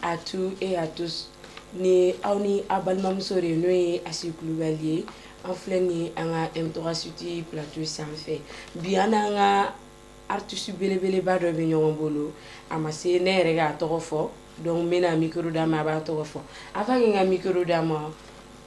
à tous et à tous ni aw ni a balimamuso de n'o ye asi kulubali ye an filɛ nin an ka m3 city plateau sanfɛ bi an n'an ka artiste belebeleba dɔ bɛ ɲɔgɔn bolo a ma se ne yɛrɛ k'a tɔgɔ fɔ donc n bɛna micro d'a ma a b'a tɔgɔ fɔ avant que n ka micro d'a ma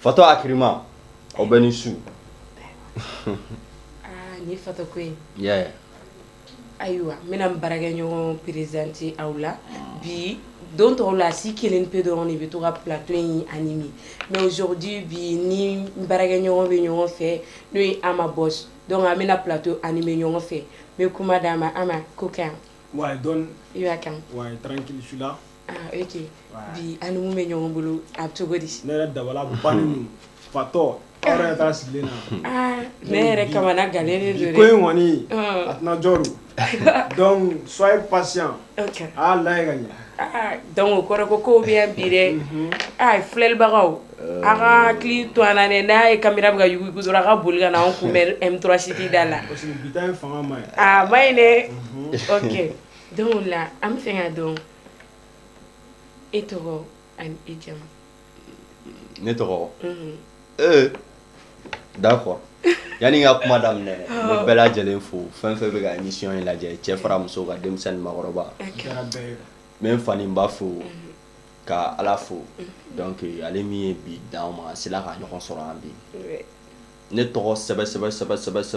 fatɔ hakilima aw bɛɛ ni su ni fa ko ayiwa n bɛna n baarakɛɲɔgɔn présenter aw la bi don tɔw la Asi kelen pe dɔrɔn de bɛ to ka plateau in animer mais aujourd'hui bi n ni n baarakɛɲɔgɔn bɛ ɲɔgɔn fɛ n'o ye Ama Boss donc an bɛna plateau animer ɲɔgɔn fɛ n bɛ kuma d'a ma Ama ko ka ɲi bi an ni mun bɛ ɲɔgɔn bolo a bɛ cogo di ne yɛrɛ dabali bannen fatɔ taa sigilen na ne yɛrɛ kamanagannen de ko in kɔni a tɛna jɔ donc soyez patient a y'a lajɛ ka ɲɛ donc o kɔrɔ ko kow bɛ yan bi dɛ aa filɛlibagaw a ka hakili to an na dɛ n'a ye caméra bɛ ka yuguyugu dɔrɔn a ka boli ka na an kunbɛn m3 city da la bi ta in ne Donc la an bɛ fɛ ka dɔn e tɔgɔ ani e jamu ne tɔgɔ ee d'accord yani n ka kuma daminɛ n bɛ bɛɛ lajɛlen fo fɛn fɛn bɛ ka émission in lajɛ cɛ fara muso kan denmisɛnnin maakɔrɔba n bɛ n fa ni n ba fo ka ala fo donc ale min ye bi d'an ma an sera ka ɲɔgɔn sɔrɔ yan bi ne tɔgɔ sɛsɛ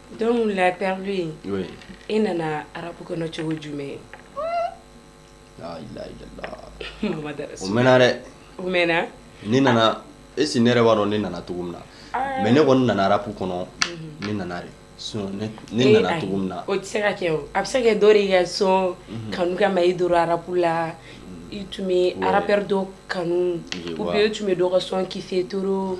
Donc la père e nana rap kɔnɔ cogo jumɛn o mɛnna dɛ ne nana est-ce que ne yɛrɛ b'a dɔn ne nana cogo min na mais ne kɔni nana rap kɔnɔ ne nana de ne nana cogo min na o tɛ se ka kɛ a bɛ se ka kɛ dɔ ka son kanu kama i donna rap la i tun bɛ rappeur dɔ kanu ou bien i tun bɛ dɔ ka son kiffer trop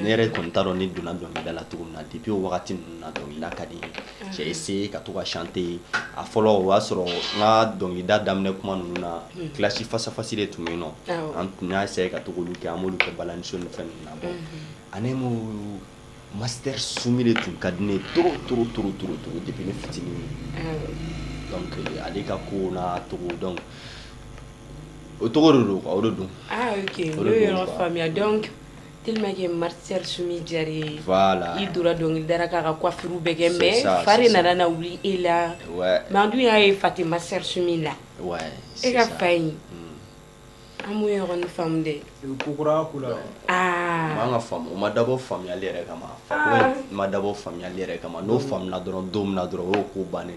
ne yɛrɛ tun t'a dɔn ne donna dɔnkilida la cogo min na depuis o wagati ninnu na dɔnkilida ka di n ye j'ai essayé ka to ka chanter a fɔlɔ o y'a sɔrɔ n ka dɔnkilida daminɛ kuma ninnu na clash face à face de tun bɛ yen nɔ an tun y'a essayer ka to k'olu kɛ an b'olu kɛ balaniso ni fɛn ninnu na bon en un mot master Sumi de tun ka di ne ye trop trop trop trop trop depuis ne fitinin donc ale ka kow n'a tɔgɔ donc o cogo de don quoi o de don ah ok n y'o yɔrɔ faamuya donc Tellement que Master Soumy diyara i ye voilà i donna dɔnkilida la k'a ka coiffure bɛɛ kɛ mais fa nana na wuli e la mais an dun y'a ye fa tɛ Master Soumy la e ka fa in an m'o yɔrɔnin faamu dɛ kokura aa an ka fa o ma dabɔ faamuyali yɛrɛ kama ma dabɔ faamuyali yɛrɛ kama n'o faamuna dɔrɔn don min na dɔrɔn o ko bannen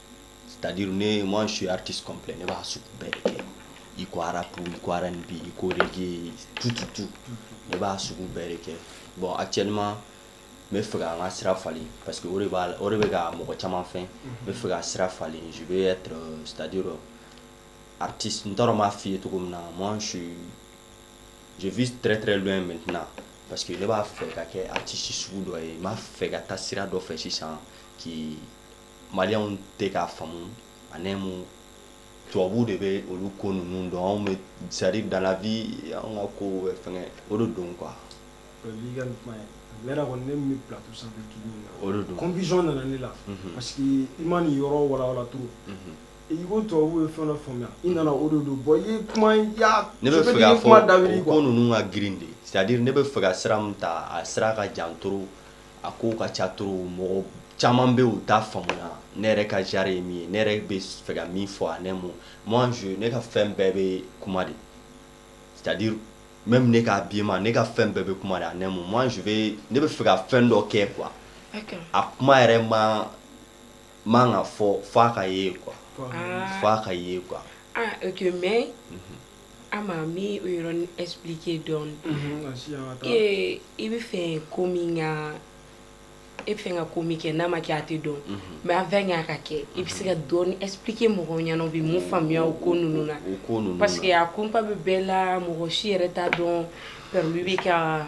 Tadi ne ma su tɛ kɔnplɛ ne b'a sugu bɛɛ kɛ i ko arabu i ko bi i ko tututu ne b'a sugu bɛɛ kɛ bɔn a cɛ ɲuman n bɛ fɛ an ka sira falen parce que de b'a o de bɛ ka mɔgɔ caman fɛ n bɛ fɛ ka sira falen su ye tadi rɔ ati n taara b'a fɔi ye cogo min na ma su joofi tɛrɛɛrɛ dɔ in mɛt parce que ne b'a fɛ ka kɛ a tɛsi sugu dɔ ye n b'a fɛ ka taa sira dɔ fɛ sisan k' Maliyɛnw tɛ k'a faamu ani mun tubabuw de bɛ olu ko ninnu dɔn anw bɛ c'est-à-dire dans la vie an ka ko bɛ fɛn o de don quoi confusion nana ne la parce que i ma nin yɔrɔ walawala trop i ko tubabuw ye fɛn faamuya i nana o don bon ne bɛ fɛ k'a fɔ a ko ninnu ka girin de c'est-à-dire ne bɛ fɛ ka sira min ta a sira ka jan trop a ko ka ca trop mɔgɔ caman bɛ yen u t'a faamuya ne yɛrɛ ka genre ye min ye ne yɛrɛ bɛ fɛ ka min fɔ ani mun moi ne ka fɛn bɛɛ bɛ kuma de c'est-à-dire même ne ka habillement ne ka fɛn bɛɛ bɛ kuma ani mun moi ne bɛ fɛ ka fɛn dɔ kɛ quoi a kuma yɛrɛ man kan ka fɔ f'a ka ye quoi f'a ka ye quoi A ma n bɛ o yɔrɔnin expliquer dɔɔnin i bɛ fɛ ko min e bɛ fɛ ka ko min kɛ n'a ma kɛ a tɛ dɔn mais avant k'a ka kɛ i bɛ se ka dɔɔnin expliquer mɔgɔw ɲɛna u bɛ mun faamuya o ko ninnu na parce que a kunpa bɛ bɛɛ la mɔgɔ si yɛrɛ t'a dɔn Pɛrili bɛ ka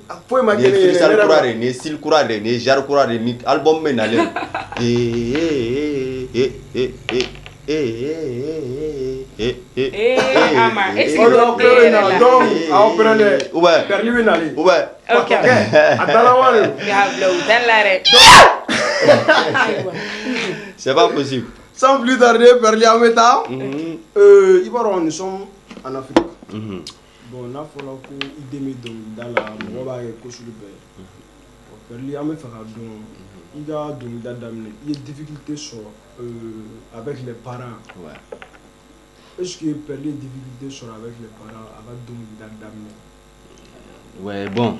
A ko e ma nin ye freestyle kura de ye nin ye style kura de ye nin ye genre kura de ye ni album bɛ nalen c'est pas possible sans plus tarder Pɛrili an bɛ taa i b'a dɔn nous sommes en Afrique Bon n'a fɔra ko i den bɛ dɔnkilida la mɔgɔ b'a kɛ ko sugu bɛɛ ye Pɛrili an bɛ fɛ k'a dɔn i ka dɔnkilida daminɛ i ye difficulté sɔrɔ euh avec les parents ouais est ce que Pɛrili ye difficulté sɔrɔ avec les parents a ka dɔnkilida daminɛ ouais bon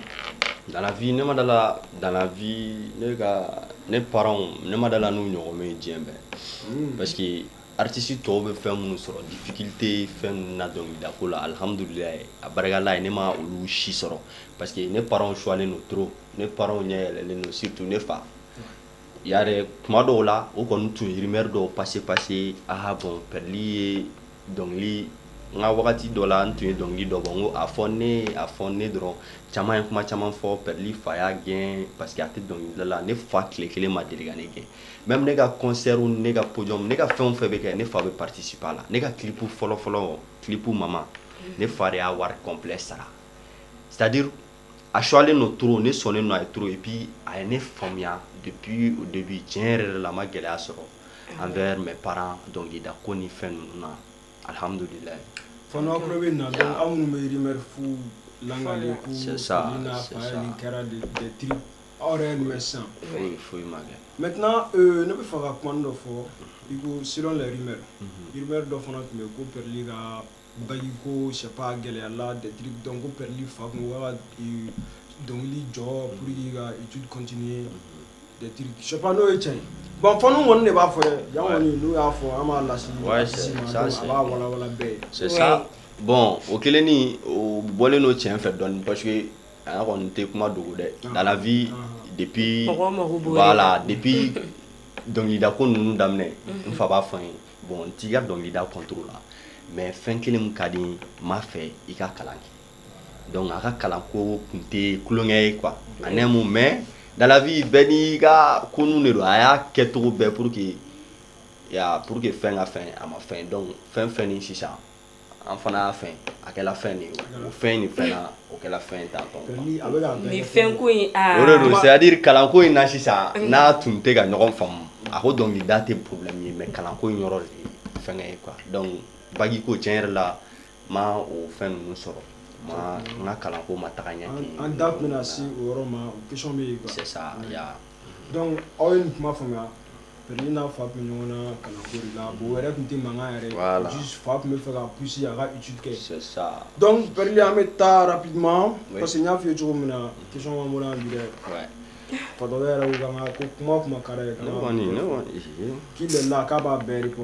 dans la vie ne ma dala dans la vie ne ka ne parents ne ma dala n'u ɲɔgɔn bɛ yen diɲɛ bɛɛ parce que Artiste tɔw bɛ fɛn minnu sɔrɔ difficulté fɛn ninnu na dɔnkilida ko la alihamdulila a barika Ala ye ne ma olu si sɔrɔ parce que ne parents suwalen don trop ne parents ɲɛ yɛlɛlen don surtout ne fa yɛrɛ kuma dɔw la o kɔni tun ye rumeur dɔw passé passé aa bon Pɛrɛli ye dɔnkili n ka wagati dɔ la n tun ye dɔnkili dɔ bɔ n ko a fɔ ne a fɔ ne dɔrɔn caman ye kuma caman fɔ Pɛrɛli fa y'a gɛn parce que a tɛ dɔnkilida la ne fa tile kelen ma deli ka ne gɛn Même ne ka concert ne ka podium ne ka fɛn o fɛn bɛ kɛ ne fa bɛ participer a la ne ka clip fɔlɔfɔlɔ clip Mama ne fa de y'a wari complet sara c'est-à-dire a suwalen don trop ne sɔnnen don a ye trop et puis a ye ne faamuya depuis au début tiɲɛ yɛrɛ de la n ma gɛlɛya sɔrɔ envers mes parents dɔnkili da ko ni fɛn ninnu na alihamdu aw yɛrɛ ye nin mɛn sisan foyi foyi ma kɛ maintenant euh, ne bɛ fɛ ka kuma dɔ fɔ i ko selon les rumeurs rumeur dɔ fana tun bɛ ko Pɛrɛli ka bac ko je sais pas gɛlɛya la des trucs donc ko Pɛrɛli fa tun ko k'a ka dɔnkili jɔ pour k'i ka étude continuer des trucs je sais pas n'o ye tiɲɛ ye bon faniw kɔni de b'a fɔ dɛ yan kɔni n'u y'a fɔ an b'a lase Ouais, c'est- i ma, ça, donc c'est- a b'a walawala bɛɛ ye c'est ça bon o kelen nin o bɔlen don tiɲɛ fɛ dɔɔni parce que A kɔni tɛ kuma dogo dɛ dans la vie depuis voilà depuis dɔnkilida ko ninnu daminɛ n fa b'a fɔ n ye bon n t'i ka dɔnkilida contre la mais fɛn kelen min ka di n b'a fɛ i ka kalan kɛ donc a ka kalan ko tun tɛ tulonkɛ ye quoi en un mot mais dans la vie bɛɛ n'i ka ko ninnu de don a y'a kɛcogo bɛɛ pour que pour que fɛn ka fɛn a ma fɛn donc fɛn fɛn sisan an fana y'a fɛn a kɛra fɛn de ye o fɛn nin fɛn o kɛra fɛn tan c'est-à-dire kalanko in na sisan n'a tun tɛ ka ɲɔgɔn faamu a ko dɔnkili da tɛ problème ye mais kalanko in yɔrɔ de ye fɛn ye quoi donc bac ko tiɲɛ yɛrɛ la n ma o fɛn ninnu sɔrɔ ma n ka kalanko ma taga ɲɛ an da tun bɛna se o yɔrɔ ma dɔnku aw ye nin kuma faamuya n'a fa tun ɲɔgɔn na ka la bon wɛrɛ tun tɛ mankan yɛrɛ fa tun bɛ fɛ ka psi a ka kɛri an bɛ taa bi parce que n y'a fɔi ye cogo min na ki bɔra bi fa yɛrɛ ko kuma kuma kɛra k'i la k'a b'a bɛɛri kɔ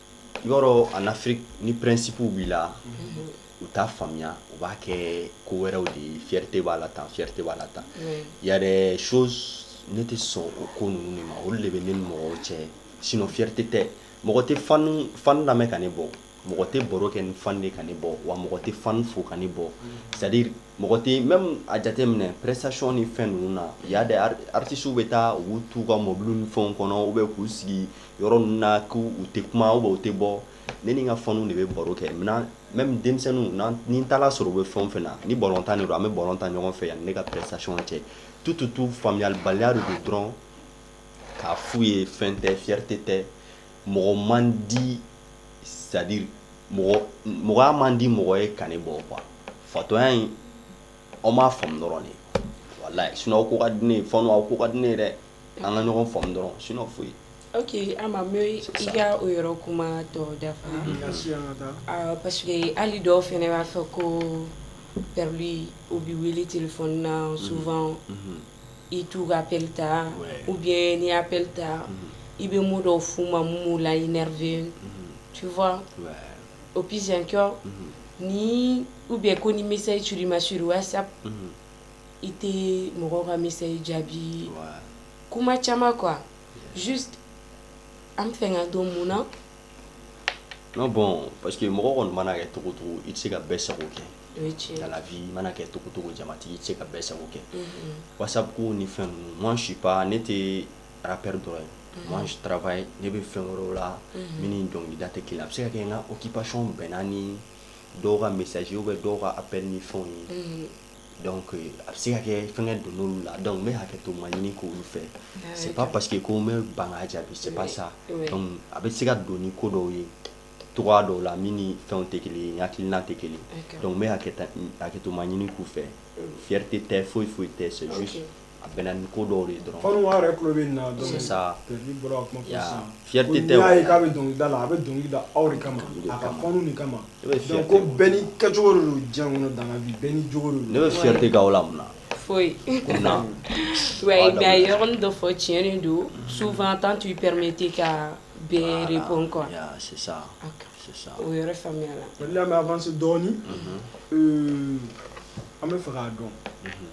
i b'a dɔn en Afrique ni principe b'i la u t'a faamuya u b'a kɛ ko wɛrɛw de ye fierté b'a la tan fierté b'a la tan il y a des choses ne tɛ sɔn o ko ninnu de ma olu de bɛ ne ni mɔgɔw cɛ sinon fierté tɛ mɔgɔ tɛ fan lamɛn ka ne bɔ mɔgɔ tɛ baro kɛ ni fan de ka ne bɔ wa mɔgɔ tɛ fan fo ka ne bɔ c'est-à-dire mɔgɔ tɛ même a jate minɛ prestation ni fɛn ninnu na il y a des artistes bɛ taa u b'u t'u ka mɔbili ni fɛn kɔnɔ u bɛ k'u sigi yɔrɔ ninnu na k' u tɛ kuma ou bien u tɛ bɔ ne ni n ka fanw de bɛ baro kɛ maintenant même denmisɛnninw ni n taara sɔrɔ u bɛ fɛn o fɛn na ni balontan don an bɛ balon tan ɲɔgɔn fɛ yanni ne ka prestation cɛ tout tout tout faamuyabaliya de don dɔrɔn k'a f'u ye fɛn tɛ fierté tɛ mɔgɔ man di c'est à dire mɔgɔya man di mɔgɔ ye ka ne bɔ quoi fatɔya in aw m'a faamu dɔrɔn walayi sinon aw ko ka di ne ye fɛn aw ko ka di ne ye dɛ an ka ɲɔgɔn faamu dɔrɔn sinon foyi ok Ama n bɛ i ka o yɔrɔ kuma tɔ dafa parce que hali dɔw fana b'a fɔ ko Perli u bɛ wele téléphone na souvent i t'u ka appel ta ou bien n'i ye appel ta i bɛ mot dɔw f'u ma min b'u la énerver tu vois au plus encore ni ou bien ko ni message cira i ma sur whatsapp i tɛ mɔgɔ ka message jaabi kuma caman quoi juste an b'a fɛ k'a dɔn mun na non bon parce que mɔgɔ kɔni mana kɛ cogo cogo i tɛ se ka bɛɛ sago kɛ dans la vie i mana kɛ cogo cogo jamatigi i tɛ se ka bɛɛ sago kɛ whatsapp ko ni fɛn ninnu moi je suis pas ne tɛ rappeur dɔrɔn ye moi je travaille ne bɛ fɛn wɛrɛw la min ni dɔnkilida tɛ kelen ye a bɛ se ka kɛ n ka occupation bɛnna ni dɔw ka message ye ou bien dɔw ka appel ni fɛnw ye Donc a bɛ se ka kɛ fɛngɛ don n'olu la donc n bɛ hakɛto ma ɲini k'olu fɛ c'est pas parce que ko n bɛ ban k'a jaabi c'est pas ça donc a bɛ se ka don ni ko dɔw ye cogoya dɔw la min ni fɛnw tɛ kelen ye n hakilina tɛ kelen ye donc n bɛ hakɛto ma ɲini k'u fɛ fierté tɛ foyi foyi tɛ c'est juste a bɛ ni ko dɔw de ye dɔrɔn yɛrɛ tulo bɛ na sa fi tɛ y'a ye k'a bɛ dɔnkilida la a bɛ dɔnkili da aw de kama a ka pan de kama ko bɛn ni kɛcogo don jan kɔnɔ dan bi bɛn ni cogo don ne bɛ fi tɛ ga la mun foyi yɔrɔ dɔ fɔ tiɲɛɲɛn don sufan tan tun pɛme tɛ ka bere bɔ kɔn sisan sisan o yɛrɛ faamuya la an dɔɔnin an bɛ fɛ k'a dɔn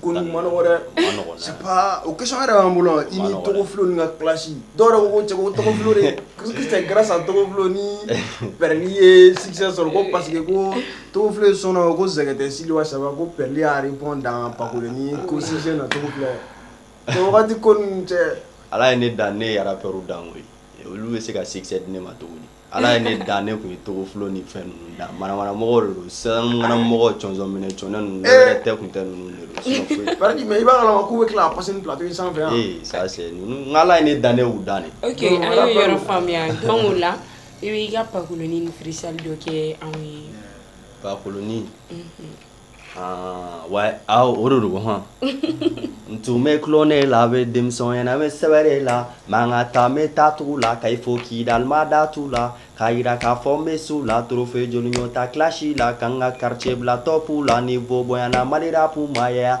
ko man wɛrɛ o ke yɛrɛ b'an bolo i ni tɔgɔfi ka kilasi dɔw ko tɔgɔfi kɛra sa tɔgɔfi ni bɛ n'i ye si sɔrɔ ko parce que ko tofi sɔnna ko sɛgɛnte sidi saba ko pli ari bɔ dan bako ni ko si na tɔgɔti ko cɛ ala ye ne dan ne yɛrɛ yɛrɛ pɛr dan koyi olu bɛ se ka sikisɛ di ne ma cogo di Ala ye ne dan ne tun ye Togofilo ni fɛn ninnu dan manamana mɔgɔw de don sanmɔgɔ jɔnjɔn minɛ c ninnu tɛ tun tɛ ninnu i b'a kalama k'u bɛ tila ka passer plateau in sanfɛ yan ala ye ne dan ne y'u dan de an y'o yɔrɔ faamuya donc o la i bɛ i ka pakolonin ni freestyle dɔ kɛ anw ye pakoloni Ah, ouais o de don hɔn n tun bɛ tulon ne la bɛ denmisɛnya na n bɛ sɛbɛ de la ma ka taa bɛ taa tugu la Kayes fo Kidal n ma da tu la k'a jira k'a fɔ n bɛ s'u la trophée joli ɲɔgɔn ta clash la ka n ka quartier bila top la niveau bonyana Mali rap maaya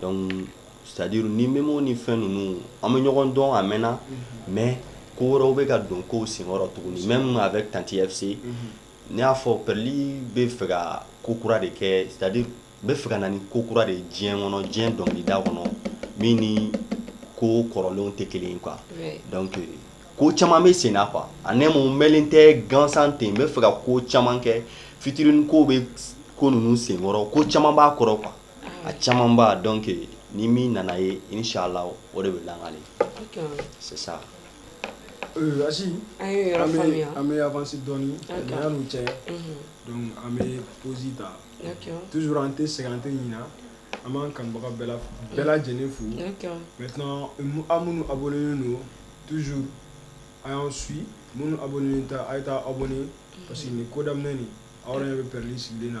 donc c'est-à-dire ni Memo ni fɛn ninnu an bɛ ɲɔgɔn dɔn a mɛnna mais ko wɛrɛw bɛ ka don kow senkɔrɔ tuguni même avec tanti FC ne y'a fɔ Perli bɛ fɛ ka ko kura de kɛ c'est-à-dire bɛ fɛ ka na ni ko kura de diɲɛ kɔnɔ diɲɛ dɔnkili da kɔnɔ min ni ko kɔrɔlenw tɛ kelen ye quoi donc ko caman bɛ sen na quoi a ne mun mɛlen tɛ gansan ten n bɛ fɛ ka ko caman kɛ fitinin ko bɛ ko ninnu senkɔrɔ ko caman b'a kɔrɔ quoi a caman b'a dɔn kɛ ni min nana ye i ni sa la o de bɛ lakale sisan an bɛfasi dɔn n'u cɛ an bɛ psi ta tuur an tɛ sɛgɛn an tɛ ɲin an b'an kanbaga bɛɛ bɛɛ lajɛlen fo an minnu a bolo don tu an y'an su minnu a bolo a ye taa aw bolo parce que ni kodamin aw yɛrɛ bɛ pli sigilen na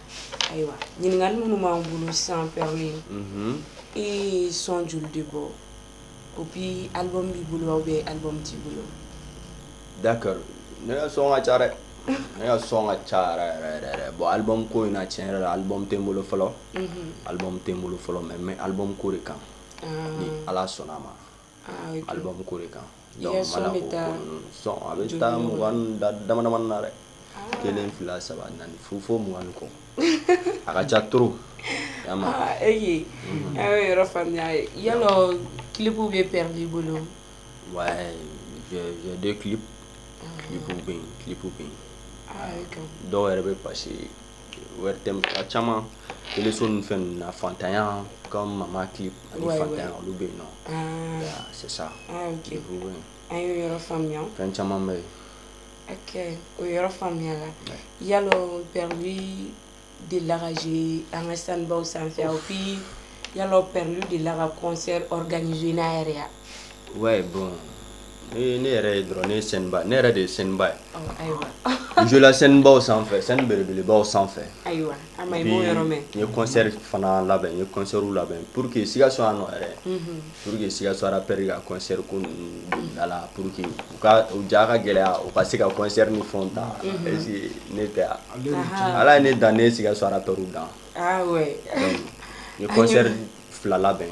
Ayiwa ɲininkali minnu b'an bolo sisan Perli ye son joli de bɔ et puis album b'i bolo ou bien album t'i bolo d'accord ne ka son ka ca dɛ ne ka son ka ca yɛrɛ bon album ko in na tiɲɛ yɛrɛ la album tɛ n bolo fɔlɔ album tɛ n bolo fɔlɔ mais mais album ko de kan ni ala sɔnna a ma alibabu ko de kan a bɛ taa mugan da damadamani na dɛ kelen fila saba naani fo fo mugan kɔ a ka ca to e a ye yɔrɔ faamuya ye ya kibuw bɛ pɛrɛn' bolo wa ki bɛ yen kibu bɛ yen dɔw yɛrɛ bɛ basi ye ORTM a caman téléso ninnu fɛn ninnu na faantanya comme mama clip ani faantanya olu bɛ yen nɔ c'est ça an y'o yɔrɔ faamuya fɛn caman bɛ yen o yɔrɔ faamuyala yala Perli delila ka jouer an ka scène-baw sanfɛ et puis yala Perli delila ka concert organiser n'a yɛrɛ yan ouais bon ne yɛrɛ ye dɔrɔn ne ye scène-ba ne yɛrɛ de ye scène-ba ye n jouer la scène-baw sanfɛ scène belebelebaw sanfɛ n ye concert fana labɛn n ye concertw labɛn pour que Sikaso yan nɔ yɛrɛ pour que Sikaso rappeur ka concert ko la pour que u ja ka gɛlɛya u ka se ka concert ni fɛnw ta ne tɛ yan ala ye ne dan ne ye Sikaso rappeur tɔw dan n ye concert fila labɛn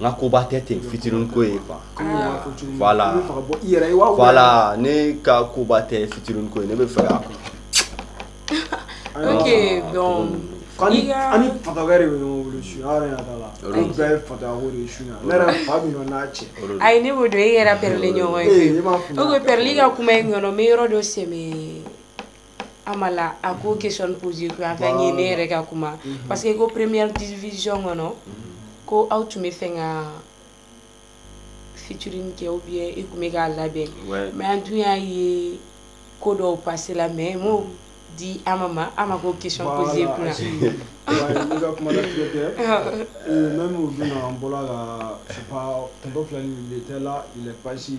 n ka koba tɛ ten featuring ko ye quoi voilà ne ka koba tɛ featuring ko ye ne bɛ fɛ yan cɛ e yɛrɛ Perli ɲɔgɔn ye Perli ka kuma in kɔnɔ n bɛ yɔrɔ dɔ sɛ Amala a ko question posé an ka ɲɛ ne yɛrɛ ka kuma parce que ko première division kɔnɔ ko aw tun bɛ fɛ ka featuring kɛ ou bien e tun bɛ k'a labɛn mais an dun y'a ye ko dɔw passéla mais m'o di Ama ma Ama ko question posé bolo la bɛ la pasi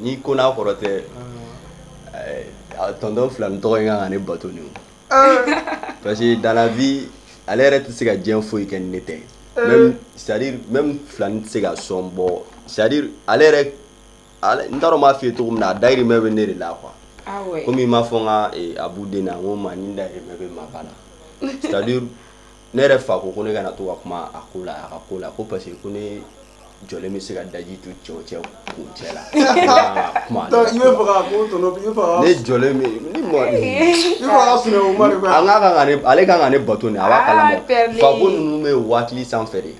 n'i ko n'a kɔrɔ tɛ tonton Filani tɔgɔ in kan ka ne bato parce que dans la vie ale yɛrɛ tɛ se ka diɲɛ foyi kɛ ni ne tɛ c'est à dire même Filani tɛ se ka son bɔ c'est à dire ale yɛrɛ n t'a dɔn n b'a fɔ i ye cogo min na a dayirimɛ bɛ ne de la quoi kɔmi i m'a fɔ n ka Abu den na n ko ma ni dayirimɛ bɛ Maka la sa ne yɛrɛ fa ko ko ne kana to ka kuma a ko la a ka ko la ko parce que ko ne jɔlen bɛ se ka daji tu cɛw cɛ kun cɛ la kuma ne jɔlen ale kan ka ne bato a b'a kalama fako ninnu bɛ aw hakili sanfɛ de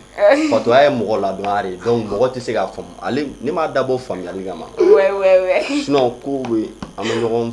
bato ye mɔgɔ ladon de donc mɔgɔ tɛ se ka faamu ne m'a dabɔ faamuyali kama ko bɛ an bɛ ɲɔgɔn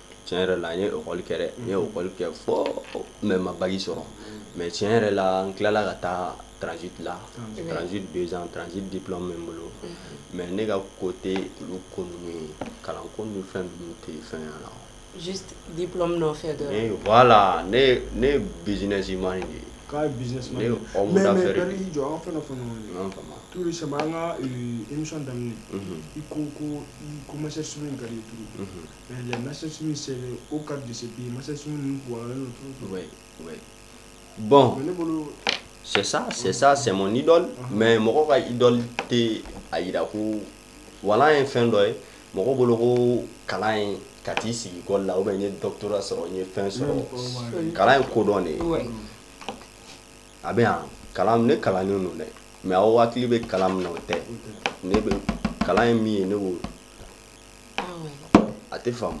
tiɲɛ yɛrɛ la n ye ekɔli kɛ dɛ n ye ekɔli kɛ fɔ mais n ma bac sɔrɔ mais tiɲɛ yɛrɛ la n tilala ka taa transit la transit deux ans transit diplôme bɛ n bolo mais ne ka ko tɛ olu ko ninnu ye kalan ko ni fɛn ninnu tɛ fɛn ɲa la diplôme nɔfɛ voilà ne ne businessman de ye jɔ an fana saba an ka émission daminɛ i ko ko ko Master Soumy ka les Master Soumy c'est un cadre de ce pays Master Soumy ninnu kalannen don trop trop ouais ouais bon mais ne bolo c'est ça c'est ça c'est mon idole mais mɔgɔ ka idole tɛ a jira ko voilà n ye fɛn dɔ ye mɔgɔ bolo ko kalan ye ka t'i sigi ekɔli la ou bien n ye doctorat sɔrɔ n ye fɛn sɔrɔ kalan ye kodɔn de ye a bɛ yan kalan ne kalannen don dɛ mais aw hakili bɛ kalan min na o tɛ ne bɛ kalan ye min ye ne b'o a tɛ faamu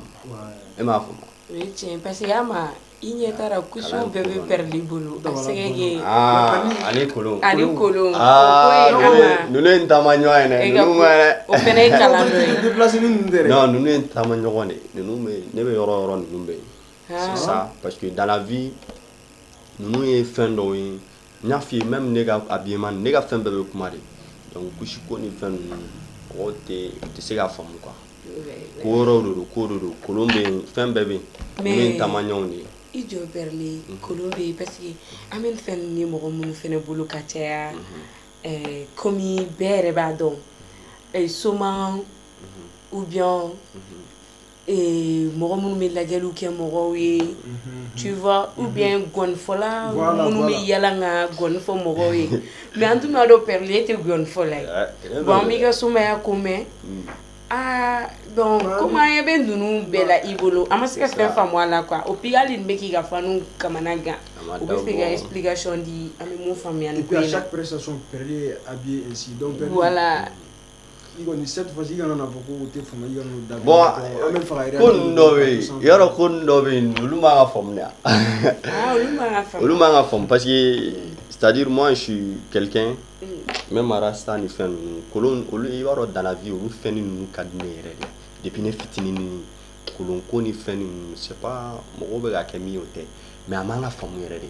e m'a faamu tiɲɛ parce que Ama i ɲɛ taara ku bɛɛ bɛ Perli bolo kolon kolon ninnu ye n taama ɲɔgɔn ye dɛ taama ɲɔgɔn de ne bɛ yɔrɔ yɔrɔ ninnu bɛ yen c'est ça parce que dans la vie ninnu ye fɛn dɔ ye N y'a f'i ye même ne ka habillement ne ka fɛn bɛɛ bɛ kuma de donc kusi ko ni fɛn ninnu mɔgɔ tɛ se k'a faamu quoi ko yɔrɔ de don ko don kolon bɛ yen fɛn bɛɛ bɛ yen taama ɲɔgɔn de ye i jɔ Perli kolon bɛ yen parce que an bɛ fɛn ninnu ye mɔgɔ minnu fana bolo ka caya kɔmi bɛɛ yɛrɛ b'a dɔn soma ou bien Ee mɔgɔ minnu bɛ lajɛli kɛ mɔgɔw ye tu vois ou bien ngɔnifɔla minnu bɛ yaala ka ngɔni fɔ mɔgɔw ye mais an tun b'a dɔn Perli e tɛ ngɔnifɔla ye bon an b'i ka somaya ko mɛn aa donc kɔmi an ɲɛ bɛ ninnu bɛɛ la i bolo an ma se ka fɛn faamu a la et puis hali nin bɛ k'i ka fanw kamana gan u b'a fɛ i ka explication di an bɛ faamuya yɔrɔ ko dɔ bɛ yen olu ka faamuya olu ka faamu parce tadi su kɛlɛkɛ n mara san ni fɛn kolon olu i b'a dɔn danfi olu fɛn ni ninnu ka di yɛrɛ de de ne fitinin kolon ko ni fɛn ninnu se mɔgɔw bɛ' kɛ min o tɛ mɛ a b'an ka faamumu yɛrɛ de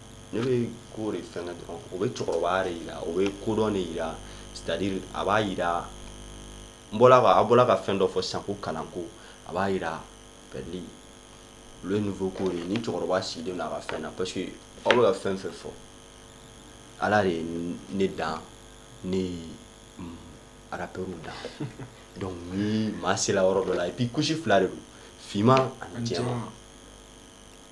Ne bɛ ko de fɛnkɛ dɔrɔn o bɛ cɛkɔrɔbaya de jira o bɛ kodɔn de jira c'est-à-dire a b'a jira n bɔra a bɔra ka fɛn dɔ fɔ sago kalan ko a b'a jira Perli le niveau ko ni cɛkɔrɔba sigilen don a ka fɛn na parce que aw bɛ ka fɛn fɛn fɔ ala de ye ne dan ne ye rap dan donc ni maa sera yɔrɔ dɔ la et puis kusi fila de don finman ani jɛ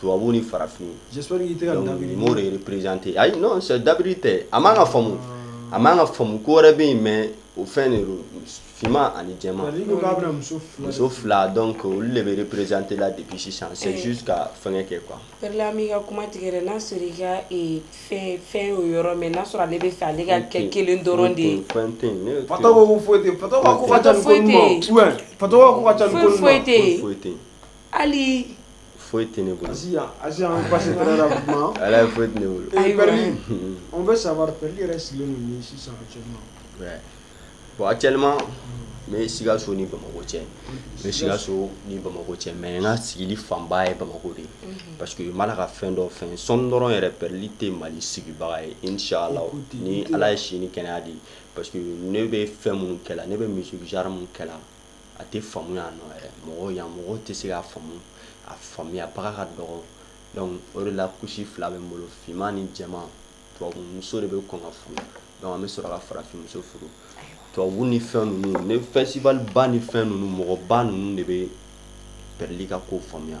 tubabu ni farafin représenter ayi dabiri tɛ a man ka faamu a man ka faamu ko wɛrɛ bɛ yen mais o fɛn de finman ani jɛman muso fila donc olu de bɛ représenter la depuis sisan c'est juste ka fɛnkɛ kɛ quoi Perli an b'i ka kuma tigɛ n'a sɔrɔ i ka fɛn o yɔrɔ mɛ n'a sɔrɔ ale bɛ fɛ ale ka kɛ kelen dɔrɔn de ye foyi foyi hali foyi tɛ ne bolo ala ye foyi tɛ ne bolo on veut savoir Perli yɛrɛ sigilen don min sisan bon actuellement n bɛ sikaso ni bamakɔ cɛ n bɛ sikaso ni bamakɔ cɛ mais n ka sigili fanba ye bamakɔ de ye parce que n b'a la ka fɛn dɔ fɛn sɔɔni dɔrɔn yɛrɛ Perli tɛ mali sigibaga ye inchallah ni ala ye si ni kɛnɛya di parce que ne bɛ fɛn minnu kɛ la ne bɛ musique genre minnu kɛ la a tɛ faamu yan nɔ yɛrɛ mɔgɔ yan mɔgɔ tɛ se k'a faamu a faamuyabaga ka dɔgɔ donc o de la couche fila bɛ n bolo finman ni jɛman tubabu muso de bɛ kɔn ka furu donc an bɛ sɔrɔ ka farafinmuso furu tubabu ni fɛn ninnu ni festival ba ni fɛn ninnu mɔgɔba ninnu de bɛ Perli ka ko faamuya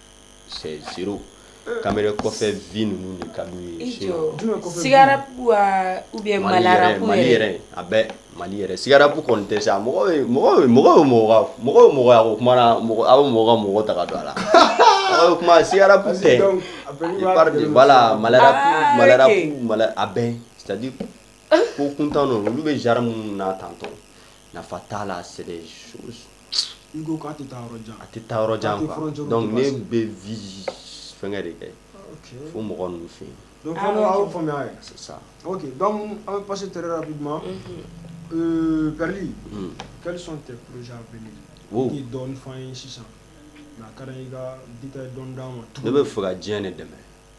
c'est zéro caméra kɔfɛ vie ninnu de ka sigara u bɛ mali yɛrɛ a bɛ mali yɛrɛ sigarabu kɔni tɛ sa mɔgɔ mɔgɔ mɔgɔ mɔgɔya o kuma na mɔgɔ aw mɔgɔ mɔgɔ ta don a la o tuma sigara b'a la mali a bɛ c'est-à-dire ko kuntan olu bɛ genre minnu na tantôt nafa t'a la c'est N'i ko k'a tɛ taa yɔrɔ jan, a tɛ taa yɔrɔ jan quoi donc ne bɛ vie fɛnkɛ de kɛ fo mɔgɔ ninnu fɛ yen, donc a y'o faamuya yɛrɛ, c'est ça, ok donc an bɛ passer très rapidement euh Perli, quels sont tes projets à venir i ye dɔɔnin f'an ye sisan mais a ka d'an ye i ka détail dɔɔnin d'an ma, ne bɛ fɛ ka diɲɛ de dɛmɛ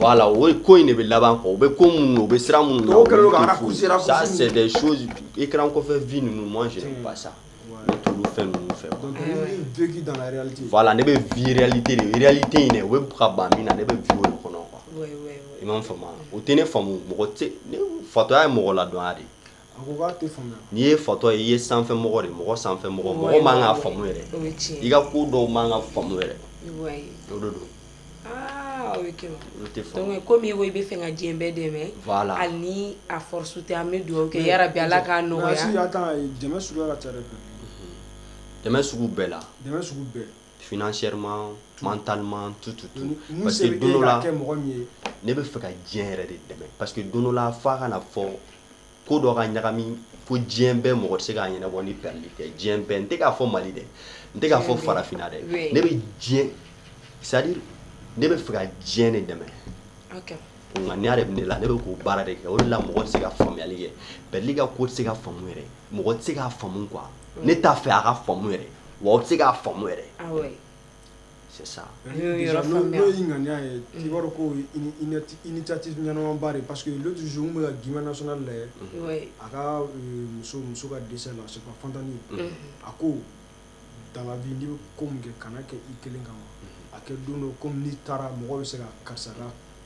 la o ko in de bɛ laban kɔ bɛ ko minnu u bɛ siran minnu sɛ i kɛra kɔfɛ v ninnu mɔn ba sa fɛn ninnu fɛ fa la ne bɛ vli tɛ in dɛ u bɛ ka ban min na ne bɛ v kɔnɔ i ma fa o tɛ ne fa mɔgɔ fatɔya ye mɔgɔ la dɔn de n'i ye fatɔ ye i ye sanfɛ mɔgɔ de mɔgɔ sanfɛ mɔgɔ mɔgɔ man ka fa yɛrɛ i ka ko dɔw man ka fa yɛrɛ o don kɔmi i bɛ fɛ ka diɲɛ bɛɛ dɛmɛ ni a dugawu kɛ ala ka la ka bɛɛ la financièrement mentalement tout tout tout parce que don dɔ la ne bɛ fɛ ka diɲɛ yɛrɛ de dɛmɛ parce que don dɔ la f'a ka fɔ ko dɔ ka ɲagami fo diɲɛ bɛɛ mɔgɔ tɛ se k'a ɲɛnabɔ ni Perli tɛ diɲɛ bɛɛ n tɛ k'a fɔ mali dɛ n tɛ k'a fɔ farafinna dɛ ne bɛ diɲɛ c'est-à-dire ne bɛ fɛ ka diɲɛ de dɛmɛ nka ni yɛrɛ bɛ ne la ne bɛ k'o baara de kɛ o de la mɔgɔ tɛ se ka faamuyali kɛ Perli ka ko tɛ se ka faamu yɛrɛ mɔgɔ tɛ se k'a faamu quoi ne t'a fɛ a ka faamu yɛrɛ wa aw tɛ se k'a faamu yɛrɛ ah c'est ça n'o y'i ŋaniya ye mm. i b'a dɔn ko initiative ɲɛnamaba de parce que l'autre jour n bɛ ka Guimba national lajɛ euh, a ka euh, muso muso ka décès la c'est pas Fantani mm. a ko dans la vie n'i bɛ ko min kɛ kana kɛ i kelen kama mm. a kɛ don dɔ komi n'i taara mɔgɔ bɛ se ka karisa ka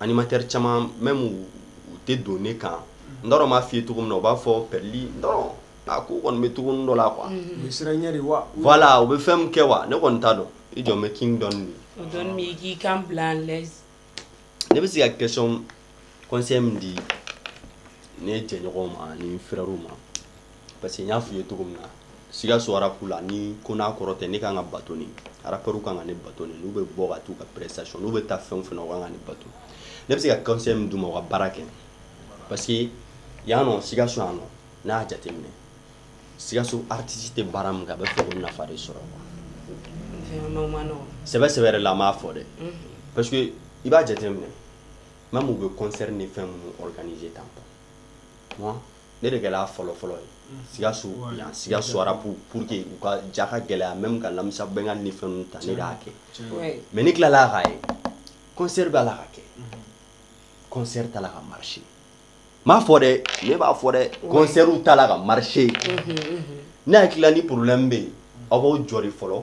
animateur caman même u tɛ don ne kan n t'a dɔn n b'a f'i ye cogo min na u b'a fɔ Perli dɔrɔn a ko kɔni bɛ cogo dɔ la quoi voilà u bɛ fɛn min kɛ wa ne kɔni t'a dɔn i jɔn bɛ king dɔn ne bɛ se ka question conseil min di ne jɛɲɔgɔn ma ni frères ma Parce que n y'a f'i ye cogo min na Sikaso rap la ni ko n'a kɔrɔ tɛ ne ka kan ka bato ni rappeurs kan ka ne bato ni n'u bɛ bɔ ka taa u ka prestation n'u bɛ taa fɛn o fɛn na u kan ka ne bato ne bɛ se ka conseil min d'u ma u ka baara kɛ parce que yan nɔ Sikaso yan nɔ n'a y'a jateminɛ Sikaso artiste tɛ baara min kɛ a bɛ fɛ k'o nafa de sɔrɔ sɛbɛ sɛbɛ yɛrɛ la an b'a fɔ dɛ parce que i b'a jateminɛ même u bɛ concert ni fɛn minnu organiser tan ne de kɛra fɔlɔ fɔlɔ ye sikaso sikaso rap pour que u ka ja ka gɛlɛya même ka Lamisa Bɛngali ni fɛnw ta ne de y'a kɛ mais ne tilala k'a ye concert b'a la ka kɛ concert t'a la ka marcher m'a fɔ dɛ ne b'a fɔ dɛ concert t'a la ka marcher ne hakili la ni problème bɛ yen aw b'aw jɔ de fɔlɔ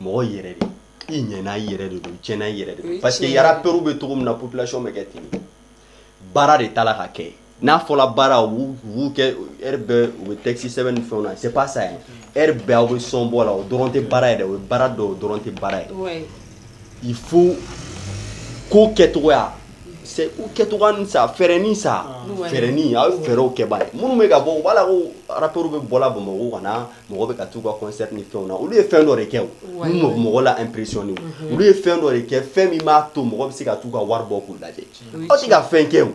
mɔgɔ yɛrɛ de i ɲɛna i yɛrɛ de don i tiɲɛna i yɛrɛ de don parce que rappeurs bɛ cogo min na population bɛ kɛ ten baara de t'a la ka kɛ n'a fɔla baara u b'u kɛ heure bɛɛ u bɛ texte sɛbɛn ni fɛnw na c'est pas ça heure bɛɛ aw bɛ son bɔ la o dɔrɔn tɛ baara ye dɛ o ye baara dɔ o dɔrɔn tɛ baara ye il faut ko kɛcogoya c'est u kɛcogoya ni sa fɛɛrɛni sa fɛɛrɛni aw ye fɛɛrɛw kɛbaa ye minnu bɛ ka bɔ u b'a la ko rappeur bɛ bɔla Bamako ka na mɔgɔ bɛ ka taa u ka concert ni fɛnw na, olu ye fɛn dɔ de kɛ o, ouais, min bɛ mɔgɔ la impressionner unhun, olu ye fɛn dɔ de kɛ fɛn min b'a to mɔgɔ bɛ se ka t'u ka wari bɔ k'u lajɛ, aw tɛ ka fɛn kɛ o,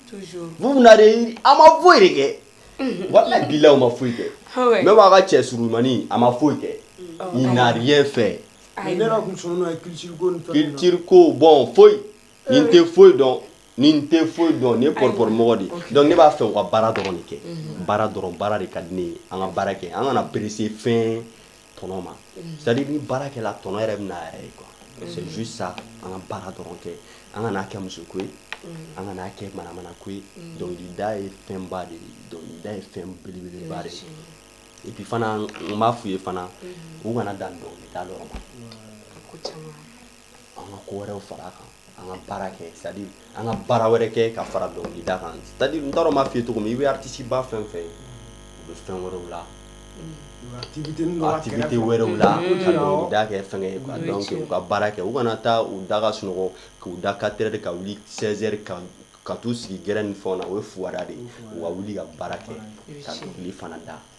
toujours, vous vous n'avez, aw ma foyi de kɛ, unhun, walayi bilahi aw ma foyi kɛ, ah ouais, même aw ka cɛ surunmanin a ma foyi kɛ, il n'a rien fait, ayi, mais ne yɛrɛ tun sɔnnen don a ye culture ko ni fɛnw na, culture ko bon foyi, nin tɛ foyi dɔn nin tɛ foyi dɔn ne pɔrɔpɔrɔ mɔgɔ de donc ne b'a fɛ u ka baara dɔrɔn de kɛ mhm. baara dɔrɔn baara de ka di ne ye an ka baara kɛ an kana presser fɛn tɔnɔ ma mhm. c'est à dire ni baara kɛla tɔnɔ yɛrɛ bɛ n'a yɛrɛ ye quoi mhm. c'est juste ça an ka baara dɔrɔn kɛ an kana kɛ muso ko ye an kana kɛ manamana ko ye dɔnkilida ye fɛnba de ye dɔnkilida ye fɛn belebeleba de ye et puis fana n b'a f'u ye fana u kana dan dɔnkilida dɔrɔn ma an ka ko wɛrɛw fara a kan an ka baara kɛ c'est à dire an ka baara wɛrɛ kɛ ka fara dɔnkilida kan c'est à dire n t'a dɔn n b'a f'i ye cogo min i bɛ artiste ba fɛn o fɛn ye u bɛ fɛn wɛrɛw la activité wɛrɛw la ka dɔnkilida kɛ fɛnkɛ ye quoi donc u ka baara kɛ u kana taa u da ka sunɔgɔ k'u da 4 heures ka wuli 16 heures ka t'u sigi gɛrɛn ni fɛnw na o ye fugariya de ye u ka wuli ka baara kɛ ka dɔnkili fana da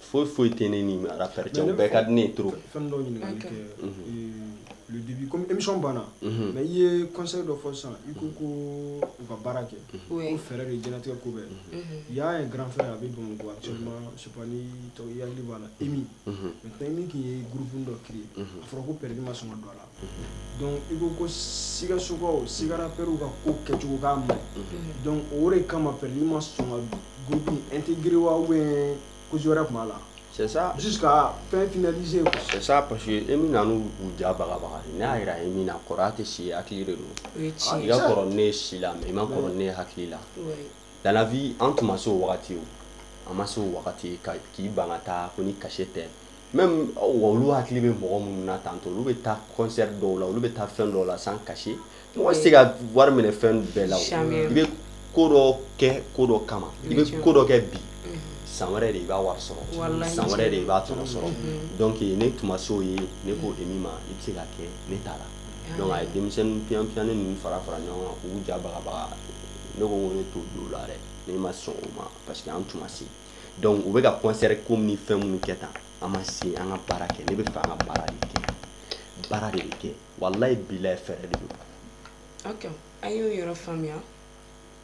foyi foyi tɛ ne ni arafɛ cɛ bɛɛ ka di ne to fɛn dɔ ɲininkali kɛ dibi kɔmi emi banna mɛ i ye kɔsɔn dɔ fɔ san i ko ko u ka baara kɛ ko fɛɛrɛ de jɛnɛtigɛ ko bɛɛ i y'a ye garanfɛ a bɛ don a cɛ su tɔgɔ yali banna imi mɛ tɛ min k'i ye guruk dɔ kelen a fɔra ko pɛredi ma sɔn don a la Dɔnku i ko ko siigakawkaw sigara pew ka ko kɛcogo ma dɔnku o de kama fɛ n' ma sɔn n tɛ g wa bɛ ko wɛrɛ tuma la ka fɛn fsee paseke e min u jabaga n y'a jira min kɔrɔ tɛ si hakili de don i y'a sɔrɔ ne si la i ma ne hakili la Dans la vie an tun ma se o wagati o an ma se o wagati ka k'i ban ka taa ko ni cachet tɛ même wa olu hakili bɛ mɔgɔ minnu na tantôt olu bɛ taa concert dɔw la olu bɛ taa fɛn dɔw la sans cachet mɔgɔ tɛ se ka wari minɛ fɛn bɛɛ la i bɛ ko dɔ kɛ ko dɔ kama i bɛ ko dɔ kɛ bi san wɛrɛ de i b'a wari sɔrɔ san wɛrɛ de i b'a tɔnɔ sɔrɔ dɔnku ne tun ma se o ye ne ko Emi ma i bɛ se ka kɛ ne t'a la donc a ye denmisɛnninyan ni ninnu fara fara ɲɔgɔn kan k'u ja baga ne ko non ne t'o don o la dɛ ne ma sɔn o ma parce que an tun ma se donc u bɛ ka concert ko ni fɛn minnu kɛ tan an ma se an ka baara kɛ ne bɛ fɛ an ka baara de kɛ baara de bɛ kɛ walayi bilayi fɛɛrɛ de don ok an y'o yɔrɔ faamuya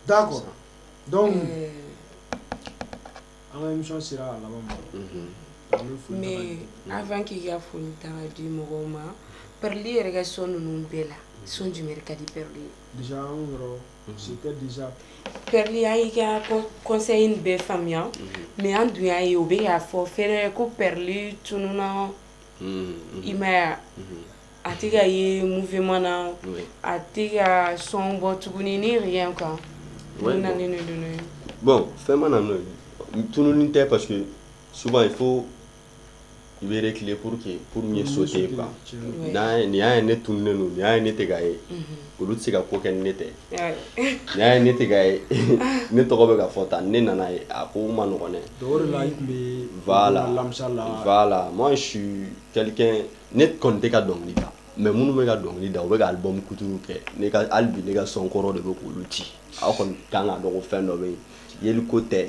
d'accord donc euh, an ka émission sera a laban ma mhm. mais avant k'i ka foli ta ka di mɔgɔw ma Perli yɛrɛ ka son ninnu bɛɛ la son jumɛn ka di Perli ye Pɛrya y' ka kɔsa in bɛɛ faamuya mɛ an dun y'a ye o bɛ y'a fɔ fɛrɛɛrɛ ko pɛrili tun na i maya a tɛ ka ye mufɛma na a tɛ ka sɔn bɔ tuguni ni yɛrɛ kan bɔn fɛn mana tunun tɛ pa suba ye fo i bɛ reculer pour que pour mieux sauter quoi oui n'a ye n'i y'a ye ne tununnen don n'i y'a ye ne tɛ ka ye unhun olu tɛ se ka ko kɛ ni ne tɛ oui n'i y'a ye ne tɛ ka ye ne tɔgɔ bɛ ka fɔ tan ni ne nana ye a ko man nɔgɔn dɛ donc o de la i tun bɛ voilà alamisa la voilà moi je suis quelqu'un ne kɔni tɛ ka dɔnkili da mais minnu bɛ ka dɔnkili da u bɛ ka album couture kɛ ne ka hali bi ne ka son kɔrɔ de bɛ k'olu ci aw kɔni ka kan k'a dɔn ko fɛn dɔ bɛ yen yeliko tɛ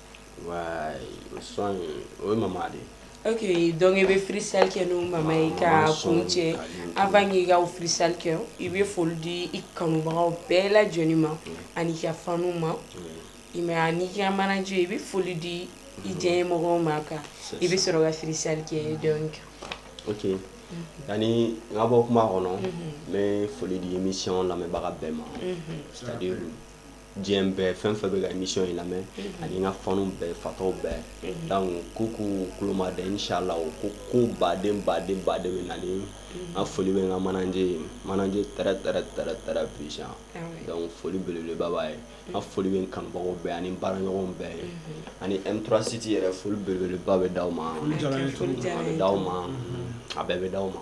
son o mama de ok donc i bɛ freestyle kɛ n'o mama ye ka kun cɛ avant k'i ka freestyle kɛ i bɛ foli di i kanubagaw bɛɛ lajɛlen ma ani ka fanw ma même n'i ka manager i bɛ foli di i diɲɛ mɔgɔw ma kan i bɛ sɔrɔ ka freestyle kɛ donc ok yani n ka bɔ kuma kɔnɔ n bɛ foli di émission lamɛnbaga bɛɛ ma diɲɛ bɛɛ fɛn fɛn bɛ ka émission in lamɛn mhm. ani n ka fanw bɛɛ fatɔw bɛɛ mhm. donc k'u k'u kulo majɔ inshallah o ko ko ba de ba de ba de bɛ nalen n mhm. ka foli bɛ n ka manager ye manager très très très très puissant ah donc foli belebeleba b'a ye n ka foli bɛ n kanubagaw bɛɛ ani n baaraɲɔgɔnw bɛɛ ye ani M3 City yɛrɛ foli belebeleba bɛ d'aw ma a bɛ d'aw ma a bɛɛ bɛ d'aw ma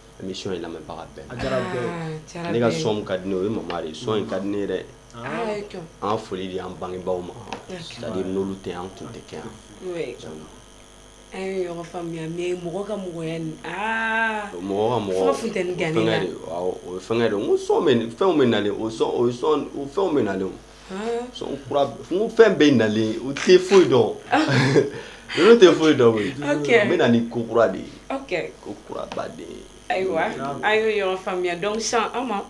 émission in lamɛnbaga bɛɛ ne ka son ka di ne o ye Mama de ye son in ka di ne yɛrɛ an foli di an bangebaw ma c'est-à-dire n'olu tɛ an tun tɛ kɛ yan an ye ɲɔgɔn faamuya mɔgɔ ka mɔgɔya mɔgɔ ka mɔgɔya o fɛn fɛnw bɛ nalen o fɛnw bɛ na fɛn bɛ nalen u tɛ foyi dɔn olu tɛ foyi dɔn n bɛ na ni ko kura de ye ko kuraba de ye ayiwa an ye ɲɔgɔn faamuya donc sisan an ma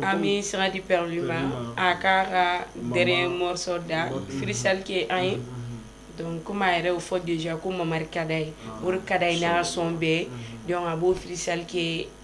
an bɛ sira di Perli ma a k'a ka dernier morceau da freestyle kɛ an ye donc kɔmi a yɛrɛ y'o fɔ déjà ko Mama de ka d'a ye o de ka d'a ye n'a ka son bɛɛ donc a b'o freestyle kɛ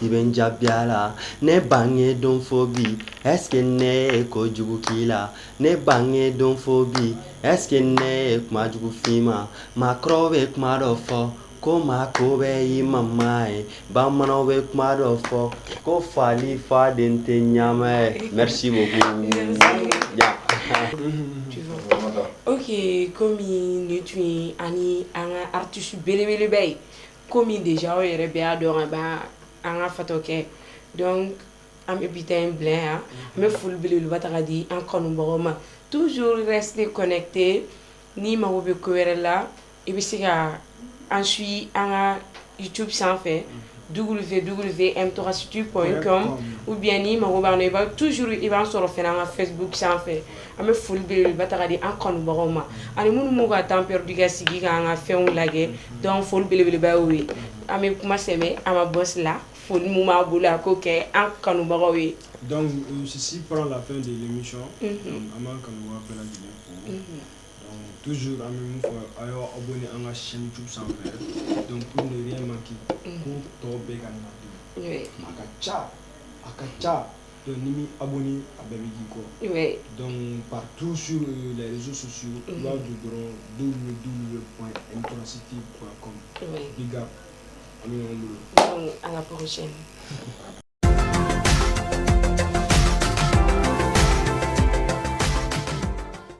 I bɛ n jaabi a la ne bange don fo bi est-ce que ne ye ko jugu k'i la ne bange don fo bi est-ce que ne ye kuma jugu f'i ma maakɔrɔw bɛ kuma dɔ fɔ ko maa ko bɛɛ y'i mama ye bamananw bɛ kuma dɔ fɔ ko fali faden tɛ ɲama ye merci beaucoup ok kɔmi nin tun ye ani an ka artiste belebeleba ye ko min de aw yɛrɛ bɛ y'a dɔn an an ka fatɔ kɛ an bɛ bi in bila yan n bɛ foliele taga di an kɔnɔbaga ma tuuur se kɔnɛte ni mago bɛ ko wɛrɛ la i bɛ se ka an suye an ka tu sanfɛ duuru fɛ duuru fɛ an tɔgɔsitu kɔn u biyan ni mago b'a i tuuur i b'a sɔrɔ fɛ an ka fɛn sanfɛ an bɛ foli bɛ ba taga di an kɔnbagaw ma ani minnu b'u ka tanpdi ka sigi ka an ka fɛnw lajɛ dɔn foli belebeleba ye ye an bɛ kuma sɛ an ma bɔsi la foli minnu b'a bolo a ko kɛ an kanubagaw ye sisi la fɛn de yemi an b'an kanu tu an bɛ fɔ a y' aw bɛ an ka sinju sanfɛ dɔn ko ma ko tɔw bɛ ka na a ka ca a ka ca Donc n'i m'i abonner a bɛɛ bɛ k'i kɔ, ouais, donc partout sur les réseaux sociaux i b'a don dɔrɔn www.mtractv.com ouais, big up an bɛ ɲɔgɔn bolo, donc à la prochaine